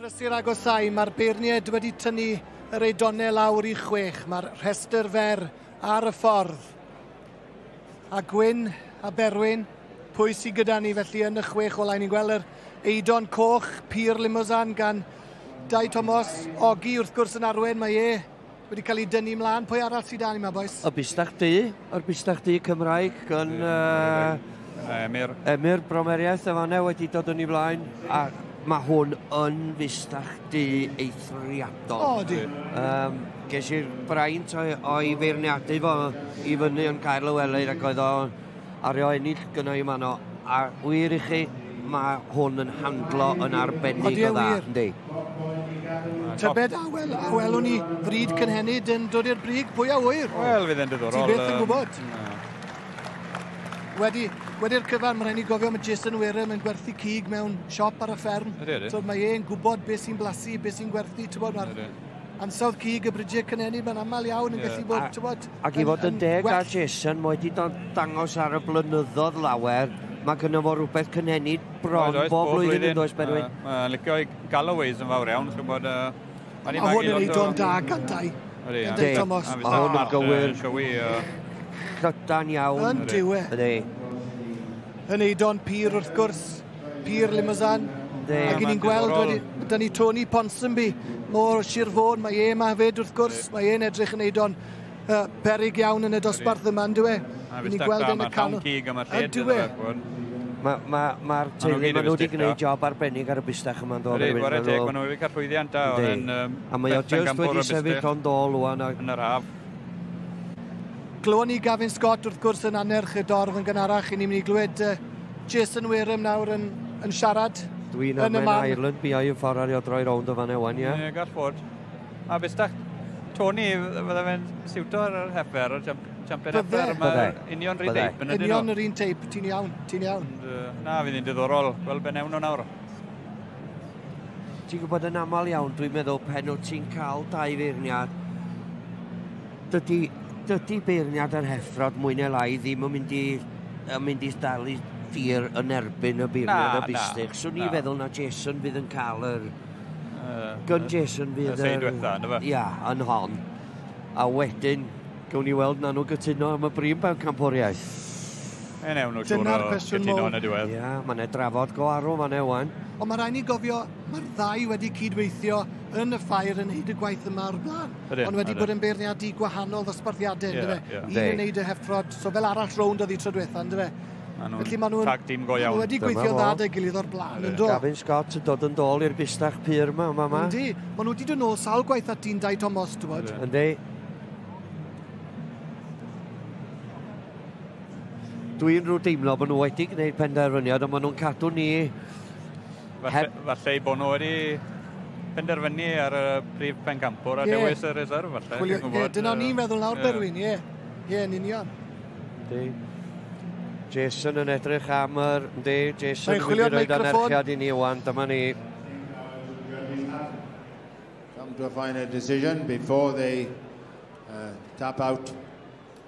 Prysur agosáu, mae'r beirniaid wedi tynnu yr eidonau lawr i chwech. Mae'r rhestr fer ar y ffordd. A Gwyn a Berwyn, pwy sydd gyda ni felly yn y chwech olau? Ni'n gweld yr eidon coch, Pur Limousin gan Dai Tomos, Ogi wrth gwrs yn arwen, mae e Wedi cael ei dynnu mlaen. Pwy arall sydd dan yma, boys? Y busnach du, yr busnach du Cymraeg yn... Uh, Emyr. Emyr Bromeriaeth y fanna wedi dod yn ei flaen. A mae hwn yn fusnach du eithriadol. O, di. Um, ges i'r braint o'i feirniadu fo i fyny yn cael y weleid ac oedd o'n Ar eo ennill gynnau y mano. A wir i chi, mae hwn yn handlo yn arbennig o dda, yndi? Tybed a, wel, a welwn ni fryd cynhenid yn dod i'r brig, pwy a wyr? Wel, fydd e'n diddorol. Ti beth yn gwybod? Wedi, wedi'r cyfan, mae'n rhaid ni gofio mae Jason Wareham yn gwerthu cig mewn siop ar y fferm. Ydy, ydy. So mae e'n gwybod beth sy'n blasu, beth sy'n gwerthu, ti'n bod, mae'r ansawdd cig y Bridie Cynenid, mae'n aml iawn yn gallu bod, ti'n bod... Ac i fod yn deg a Jason, mae wedi dangos ar y blynyddoedd lawer, mae gyda fo rhywbeth cynhenid bron bob, bob flwyddyn, yn does Berwyn? Mae'n licio i Galloways yn fawr iawn, chi'n bod... Mae hwn yn ei don da gandau. Ydy, Thomas. Mae hwn yn gywir. Crydan iawn. Yn diwe. Ydy. Yn ei don pur wrth gwrs. Pier Limousin. Ac i ni'n gweld wedi, da ni Tony Ponsonby o Sir Fôn, mae e yma hefyd wrth gwrs, mae e'n edrych yn neud o'n uh, perig iawn yn y dosbarth yma, yn dweud. A fi gweld yn y canol. Cig am y lle, Mae'r ma, ma teulu, maen nhw wedi gwneud job arbennig ar y bustach yma, yn dod. Rhaid, wara deg, maen nhw wedi cael llwyddiant da. A mae o just wedi sefyll o'n dol o'n Yn yr haf. Glywon ni Gavin Scott wrth gwrs yn anerch y dorf yn gynharach, i ni'n mynd i glywed uh, Jason Wareham nawr yn, yn siarad. Dwi'n am yn Ireland, bi yn ffordd ario droi rownd o fan ewan, ie? Ie, gall fod. A bys da, Tony, fydde fe'n siwto ar yr hefer, ar jump, jumper hefer, mae union rhi teip yn ydyn nhw. Union yr un teip, ti'n iawn, ti'n iawn. Na, fydd hi'n diddorol, gweld be newn nhw nawr. Ti'n gwybod yn aml iawn, dwi'n meddwl pen o ti'n cael dau feirniad, Dydy, dydy beirniad yr heffrod mwy neu lai ddim yn mynd i, yn mynd i dal i dir yn erbyn y beirniad y bistych. Swn i'n feddwl na Jason fydd yn cael yr... Gyn Jason fydd... Y seid wetha, ynddo fe? Ia, yn hon. A wedyn, gawn ni weld na nhw gytuno am y brim pan camporiaeth. E newn nhw siwr o gytuno yn y diwedd. Ia, mae'n e drafod go arw fan ewan. Ond mae rhaid ni gofio, mae'r ddau wedi cyd-weithio yn y ffair yn neud y gwaith yma o'r blaen. Ydyn, Ond wedi ydyn. bod yn beirniadu gwahanol ddosbarthiadau, yeah, yndyfe? Yeah. Un yn neud y heffrod, so fel arall rownd oedd hi tro diwetha, yndyfe? Felly maen nhw'n... Tag team go iawn. wedi gweithio'n dda da gilydd o'r blaen, yn do? Gavin Scott yn dod yn dôl i'r bistach pyr yma, yma, yma. Yndi, maen nhw wedi dod nôl sawl gwaith at dyn Dai Thomas, ti'n bod? Yndi. Dwi'n rhyw deimlo bod nhw wedi gwneud penderfyniad, ond maen nhw'n cadw ni Falle, falle ei bod nhw wedi penderfynu ar y prif pencampwr a yeah. dewis y reserve falle. Chwilio, yeah, dyna uh, ni'n feddwl nawr, yeah. Berwyn, ie. Ie, yn union. Yndi. Jason yn edrych am yr... Yndi, Jason yn mynd i roed anerchiad i ni wan, dyma ni. Come to a final decision before they uh, tap out.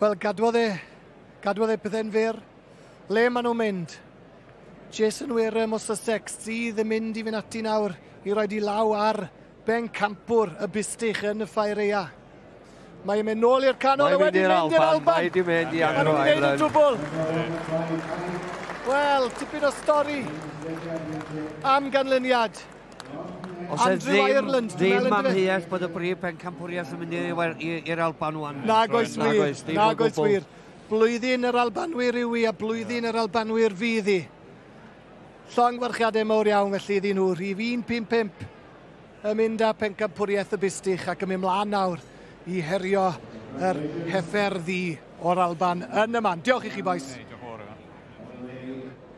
Wel, gadwodd e, gadwodd e pethau'n fyr. Le maen nhw'n mynd? Jason Wareham o Sussex sydd yn mynd i fynd ati nawr i roi di law ar ben campwr y bustych yn y ffaireia. Mae yn mynd nôl i'r canol, a wedi mynd i'r Alban. Mae wedi mynd i agro Ireland. Wel, tipyn o stori am ganlyniad. Os Andrew ddim, Ireland, ddim yn amheuaeth bod y brif pencampwriaeth yn mynd i'r Alban wan. Na goes wir, na goes wir. Blwyddyn yr Albanwyr yw i a blwyddyn yr Albanwyr fydd i. Llongwarchiadau mawr iawn felly iddyn nhw. Rhif 155 yn mynd â pencampwriaeth y bustych ac yn mynd mlaen nawr i herio yr hefer ddi o'r Alban yn y man. Diolch i chi boes.